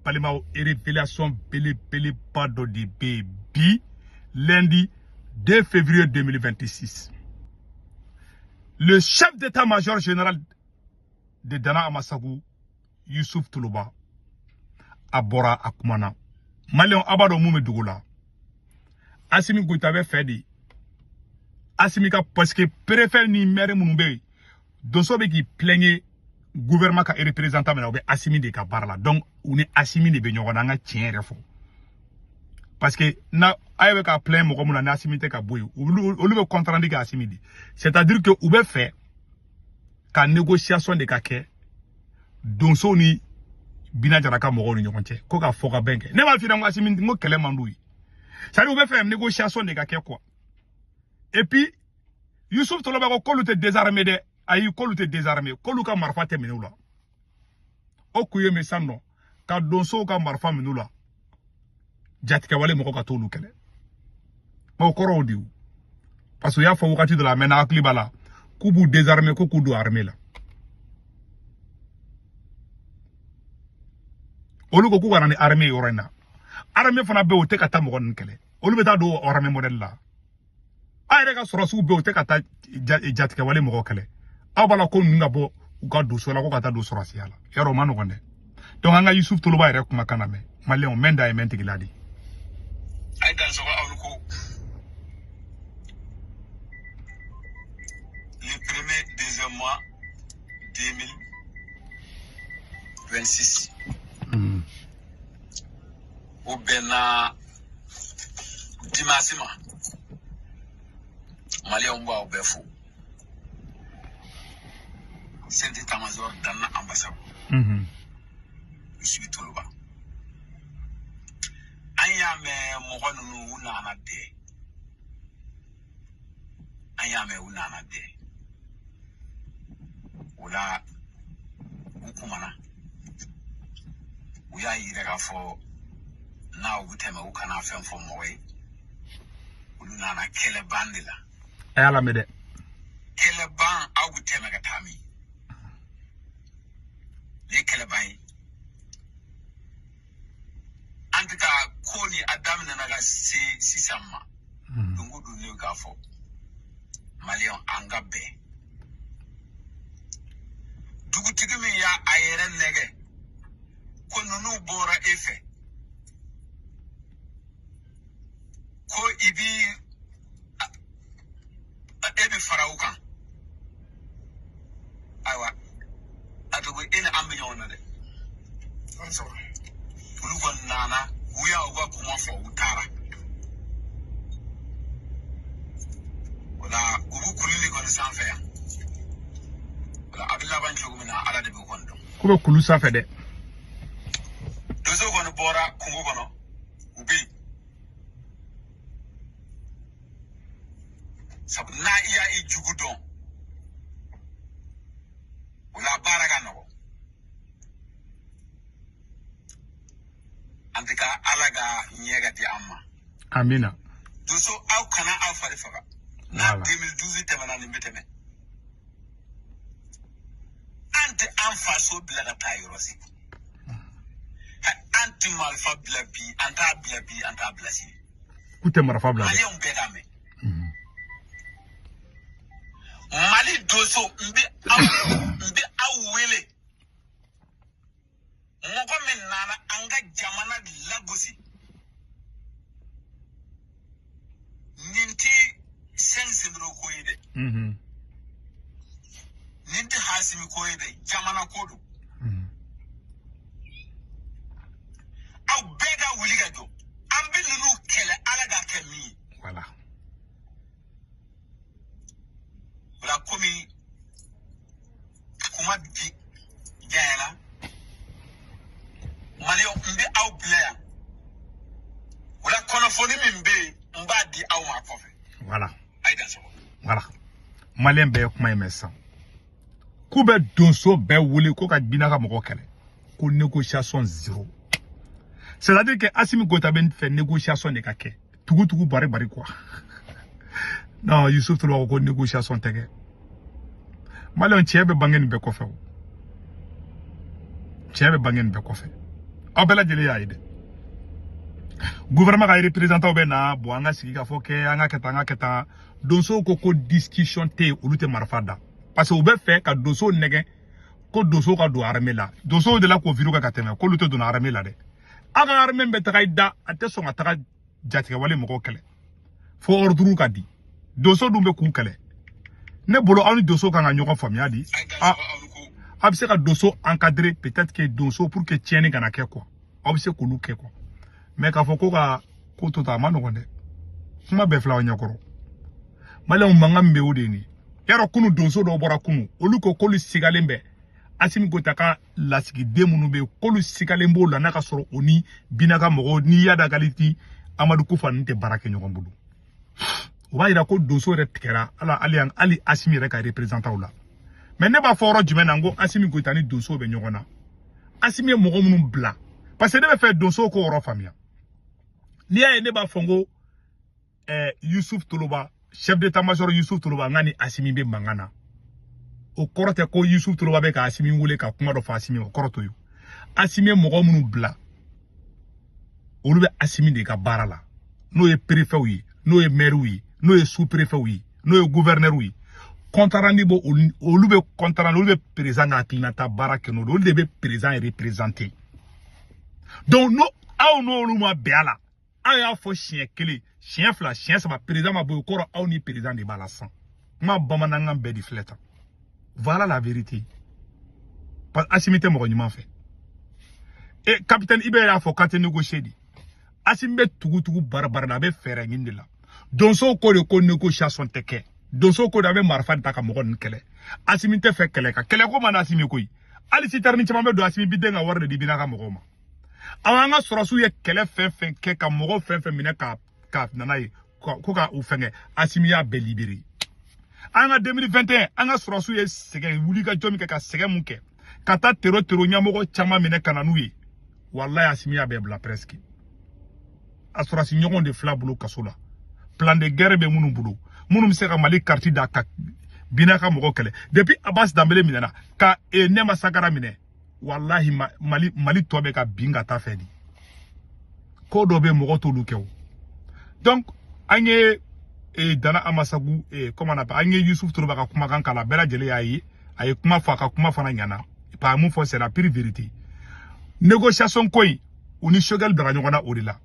balimaw révélation belebeleba dɔ de bɛ yen bi lundi 2 février 2026 le chef d'état-major général de Dana Amasagu yusuf toloba a bɔra a kumana maliyɛnw a b'a dɔn mun bɛ dugu la asimi goyita bɛ fɛ de asimi ka pasike perefɛ ni mɛri minnu bɛ yen donso bɛ k'i plɛŋe gouvernement ka représentant min na o bɛ asimi de ka baara la donc u ni asimi de bɛ ɲɔgɔn na an ka tiɲɛ yɛrɛ fɔ parce que na a ye bɛ ka plain mɔgɔ min na ni asimi tɛ ka bɔ yen olu olu bɛ compte rendu kɛ asimi de c'est à dire que u bɛ fɛ ka négociation de ka kɛ donsow ni bina jara ka mɔgɔw ni ɲɔgɔn cɛ ko ka fɔkabɛn kɛ ne b'a f'i ɲɛna asimi n ko kɛlɛ man d'u ye c'est à dire u bɛ fɛ négociation de ka kɛ quoi et puis yusuf toloba ko k'olu tɛ désarmé dɛ ayi k'olu tɛ désarmé k'olu ka marifa tɛ minɛ u la o kun ye min sani u ka donsow ka marifa minɛ u la jatigɛwale mɔgɔ ka t'olu kɛlɛ mɛ o kɔrɔ o de parce que u y'a fɔ wagati dɔ la a mɛnna hakili b'a la k'u b'u désarmer ko k'u don armée la olu ko k'u kana ni armée yɔrɔ in na armée fana bɛ o tɛ ka taa mɔgɔ ninnu kɛlɛ olu bɛ taa don armée modèle la aw yɛrɛ ka sɔrɔdasiw bɛ u tɛ ka taa jatigɛwale mɔgɔ kɛlɛ aw b'a la ko ninnu ka bɔ u ka donso la ko ka taa don sɔrɔdasiya la yɔrɔ o man nɔgɔn dɛ donc an ka yusuf toloba yɛrɛ kumakan lamɛn maliyɛnw mɛn da ye mɛn tigi la de ye a ye dan sɔgɔ aw ko le premier deuxième mois 2026 mm. o bɛnna dimasi ma maliyɛnw n b'aw bɛɛ fo chef d'état-major Dana Anbasagu yusuf toloba an y'a mɛn mɔgɔ ninnu u nana dɛ an y'a mɛn u nana dɛ o la u kumana u y'a yira k'a fɔ n'aw bɛ tɛmɛ u kana fɛn fɔ mɔgɔ ye olu nana kɛlɛban de la a y'a lamɛn dɛ kɛlɛban aw bɛ tɛmɛ ka taa min ne ye kɛlɛban ye en tout cas ko nin a daminɛna ka se sisan ma hmm. don o don ne k'a fɔ maliyɛn an ka bɛn dugutigi min y'a a yɛrɛ nɛgɛn ko ninnu bɔra e fɛ ko i bi e bɛ fara u kan ayiwa a tɔgɔ e ni an bɛ ɲɔgɔn na dɛ olu kɔni nana u y'a u ka kuma fɔ u taara o la u bɛ kulu de kɔni sanfɛ yan o la a bɛ laban cogo min na ala de b'o kɔni dɔn. k'u bɛ kulu sanfɛ dɛ. donso kɔni bɔra kungo kɔnɔ u bɛ yen. sabu n'a i y'a i jugu dɔn o la baara ka nɔgɔ an tɛ ka ala ka ɲɛ ka di an ma amina donso aw kana aw fari faga n'a 2012 tɛmɛna nin bɛ tɛmɛ an tɛ an faso bila ka taa yɔrɔ si an tɛ marifa bila bi an t'a bila bi an t'a bila sini k'u tɛ marifa bila dɛ maliyɛnw bɛɛ k'a mɛn mali donso n bɛ aw wele mɔgɔ min nana an ka jamana lagosi nin tɛ cinq généraux ko ye dɛ nin tɛ asimi ko ye dɛ jamana ko don aw bɛɛ ka wuli ka jɔ an bɛ ninnu kɛlɛ ala ka kɛ min ye voilà o la komi kuma bɛ janya la maliyɛn n bɛ aw bila yan o la kunnafoni min bɛ yen n b'a di aw ma kɔfɛ voilà a ye dan sɔgɔ voilà maliyɛn bɛɛ ye kuma in mɛn sisan k'u bɛ donso bɛɛ wele ko ka bina ka mɔgɔ kɛlɛ ko négociation zéro c'est à dire que asimi goyita b'a fɛ négociation de ka kɛ tugu tugu bari bari quoi non yusuf toloba ko ko négociation tɛ kɛ maliyɛn cɛ bɛ bange nin bɛɛ kɔfɛ o cɛ bɛ bange nin bɛɛ kɔfɛ aw bɛɛ lajɛlen y'a ye dɛ gouvernement ka représentant bɛ na bɔ an ka sigikafɔ kɛ an k'a kɛ tan an k'a kɛ tan donsow ko ko discussion tɛ yen olu tɛ marifa da parce que u b'a fɛ ka donsow nɛgɛn ko donsow ka don arame la donsow de la k'o viri kɛ ka tɛmɛ k'olu tɛ don arame la dɛ aw ka arame bɛ taga i da a tɛ sɔn ka taga jatigɛwale mɔgɔw kɛlɛ fo ordre ka di donso dun bɛ k'u kɛlɛ ne bolo aw ni donso kan ka ɲɔgɔn faamuya de a bɛ se ka donso encadrer peut-être que donso pour que tiɲɛni kana kɛ quoi aw bɛ se k'olu kɛ quoi mais k'a fɔ ko ka ko to tan a man nɔgɔn dɛ kuma bɛɛ filɛ aw ɲɛkɔrɔ maliyɛnw mankan min bɛ o de ye nin ye yarɔ kunu donso dɔw bɔra kunu olu ko k'olu sigalen bɛ asimi goyita ka lasigiden minnu bɛ yen k'olu sigalen b'o la n'a ka sɔrɔ o ni bina ka mɔgɔw ni iyadi agali ni amadu kufa ninnu tɛ baara kɛ ɲɔgɔn bolo o b'a yira ko donso yɛrɛ tigɛra a la hali yan hali asimi yɛrɛ ka reprezantaw la mɛ ne b'a fɔ yɔrɔ jumɛn na n ko asimi goyita ni donso bɛ ɲɔgɔn na asimi ye mɔgɔ minnu bila parce que ne bɛ fɛ donso k'o yɔrɔ faamuya n'i y'a ye ne b'a fɔ n ko ɛɛ yusuf toloba chef d'état major yusuf toloba n k'a ni asimi bɛ mankan na o kɔrɔ tɛ ko yusuf toloba bɛ ka asimi wele ka kuma dɔ fɔ asimi o kɔrɔ t'o ye asimi ye mɔgɔ minnu bila olu bɛ asimi de ka baara la n'o ye perefɛw ye n'o ye mɛriw ye n'o ye su perefɛw ye n'o ye guvɛrinɛriw ye kɔntarandi b'o olu bɛ kɔntarandi olu bɛ perezan ka hakilinata baara kɛ n'o de olu de bɛ perezan reprezante donc n'o aw n'olu ma bɛn a la aw y'a fɔ siɲɛ kelen siɲɛ fila siɲɛ saba perezan ma bɔ yen o kɔrɔ aw ni perezan de b'a la sisan n ka bamanankan bɛɛ de filɛ tan Voilà la vérité. Parce que Assimi tɛ mɔgɔ ɲuman fɛ. Et eh, capitaine Ibe y'a fɔ k'a tɛ négocier dɛ. Assimi bɛ tugu tugu bari bari la, a bɛ fɛɛrɛ ɲini de la. Donso ko de ko négociation tɛ kɛ. Donso ko de a bɛ marifa de ta ka mɔgɔ ninnu kɛlɛ. Assimi tɛ fɛ kɛlɛ kan. Kɛlɛ ko man na Assimi koyi. Hali sitɛrini caman bɛ don Assimi bɛ de an ka wari de di Bina ka mɔgɔw ma. Aw an ka sɔrɔsiw ye kɛlɛ fɛn fɛn kɛ ka mɔgɔ fɛn fɛn minɛ ka ka na n'a ye ko ka u fɛngɛ asimi y'a bɛɛ libere an ka 2021 an ka sɔrɔsiw ye sɛgɛn wuli ka jɔ min kɛ ka sɛgɛn mun kɛ ka taa tero tero ɲɛmɔgɔ caman minɛ ka na n'u ye walayi asimi y'a bɛɛ bila presque a sɔrɔsi ɲɔgɔn de filɛ a bolo kaso la plan de guerre bɛ minnu bolo minnu bɛ se ka mali kariti da ka bina ka mɔgɔ kɛlɛ depuis abas danbele minɛna ka e nɛma sagara minɛ walahi mali tɔ bɛ ka bin ka taa fɛ de ko dɔ bɛ mɔgɔ t'olu kɛ o donc an ye e, dana amasagu e, comment on appelle an ye yusuf toloba ka kumakan kala bɛɛ lajɛlen y'a ye a ye kuma fɔ a ka kuma fana ɲana pa mun fɔ c'est la pure vérité négociation ko in u ni sogɛli bilara ɲɔgɔn na o de la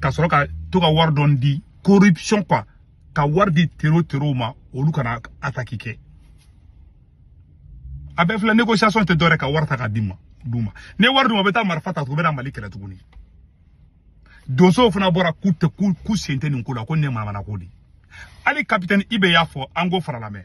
ka sɔrɔ ka to ka wari dɔn di corruption quoi ka wari di tero tero ma olu kana ataki kɛ a bɛɛ filɛ négociation tɛ dɔwɛrɛ ka wari ta ka di ma d'u ma n'i ye wari d'u ma u bɛ taa marifa ta tugun u bɛ na mali kɛlɛ tuguni donsow fana bɔra k'u tɛ k'u sen tɛ nin ko la ko nin ye manamana ko de hali kapitɛni ibe y'a fɔ an k'o fana lamɛn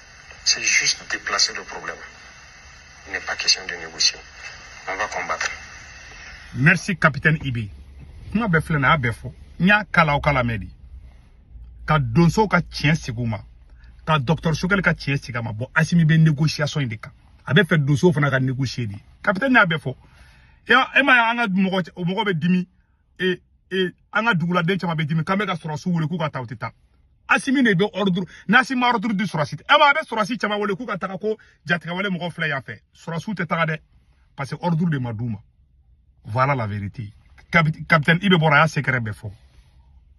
C'est juste déplacer le problème. Il n'est pas question de négocier. On va combattre. Merci, capitaine Ibi. Kuma bɛɛ filɛ nin a y'a bɛɛ fɔ n y'a kala o kala mɛ de ka donsow ka tiɲɛ sigi u ma ka dɔgɔtɔrɔ sogɛli ka tiɲɛ sigi a ma bɔn asimi bɛ négociation in de kan a bɛ fɛ donsow fana ka négocier de capitaine y'a bɛɛ fɔ e m'a ye an ka mɔgɔ mɔgɔ bɛ dimi e e an ka duguladen caman bɛ dimi k'an bɛ ka sɔrɔsiw wele k'u ka taa u tɛ taa asimi de bɛ ɔriduru n'asimi ma ɔriduru di sɔrɔsi tɛ ɛ ma a bɛ sɔrɔsi caman wele k'u ka taga ko jatigɛwale mɔgɔ filɛ yan fɛ sɔrɔsiw tɛ taga dɛ parce que ɔriduru de ma d'u ma voilà la vérité capitaine ibe bɔra a y'a secret bɛɛ fɔ